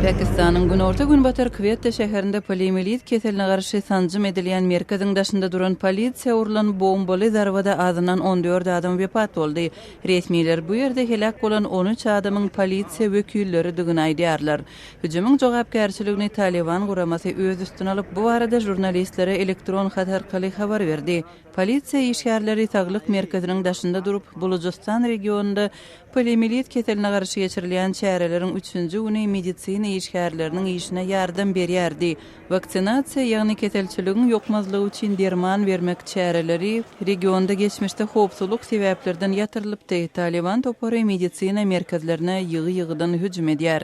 Pakistanyň günorta-günbatar Kwetta şäherinde poliomiýelit keseline garşy sanjym edilýän merkeziň daşynda duran polisiýa urlan bombaly zarbada azyndan on dört adam wepat boldy. Resmiler bu ýerde heläk bolan on üç adamyň polisiýa wekilleridigini aýdýarlar. Hüjümiň jogapkärçiligini Talyban guramasy öz üstüne alyp, bu barada žurnalistlere elektron hat arkaly habar berdi. Polisiýa işgärleri saglyk merkeziniň daşynda durup, Bulujystan regionynda poliomilit keseline garşy geçirilýän çäreleriň üçünji güni medisina işgärleriniň işine ýardam berýär diý, Waksinasiýa, ýagny keselçiligiň ýokmazlygy üçin derman bermek çäreleri regionda geçmişde howpsuzlyk sebäplerden ýatyrylypdy, Taliban topary medisina merkezlerine ýygy-ýygydan hüjüm edýär.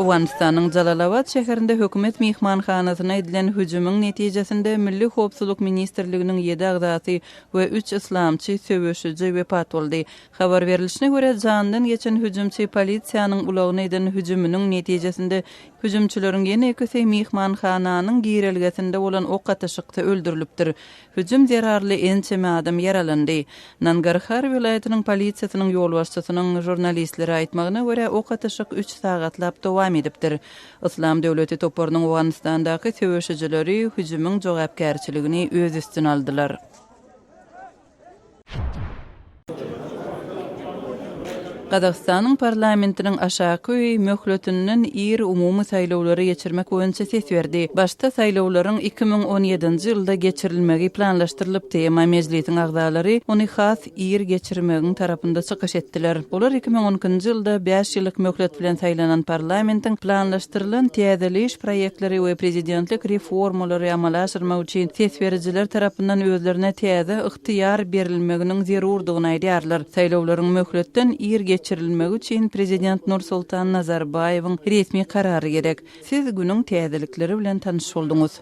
Owganystanyň Jalalabad şäherinde hökümet myhmanhanasyna edilen hüjümiň netijesinde Milli howpsuzlyk ministrliginiň ýedi agzasy we üç yslamçy söweşiji wepat boldy. Habar berlişine görä, janydan geçen hüjümçi polisiýanyň ulagyna eden hüjüminiň netijesinde, hüjümçileriň ýene ikisi myhmanhananyň girelgesinde bolan ok atyşykda öldürilipdir. Hüjüm zerarly ençeme adam ýaralandy. Nangarhar welaýatynyň polisiýasynyň ýolbaşçysynyň žurnalistlere aýtmagyna görä, ok atyşyk üç sagatlap dowam edipdir. Yslam döwleti toparynyň Owganystandaky söweşijileri hüjümiň jogapkärçiligini öz üstüne aldylar. Gazagystanyň parlamentiniň aşaky öýi möhletinden ir umumy saýlawlary geçirmek boýunça ses berdi. Başda saýlawlaryň iki müň on ýedinji ýylda geçirilmegi planlaşdyrylypdy, emma Mejlisiň agzalary ony has ir geçirmegiň tarapynda çykyş etdiler. Olar iki müň on ikinji ýylda bäş ýyllyk möhlet bilen saýlanan parlamentiň planlaşdyrylan täzeleýiş proýektleri we prezidentlik reformalary amala aşyrmak üçin ses berijiler tarapyndan özlerine täze ygtyýar berilmeginiň zerurdygyny aýdýarlar. Saýlawlaryň möhletden ir geçirilmegi üçin prezident Nursultan Nazarbaýewiň resmi karary gerek. Siz günüň täzelikleri bilen tanyş bolduňyz.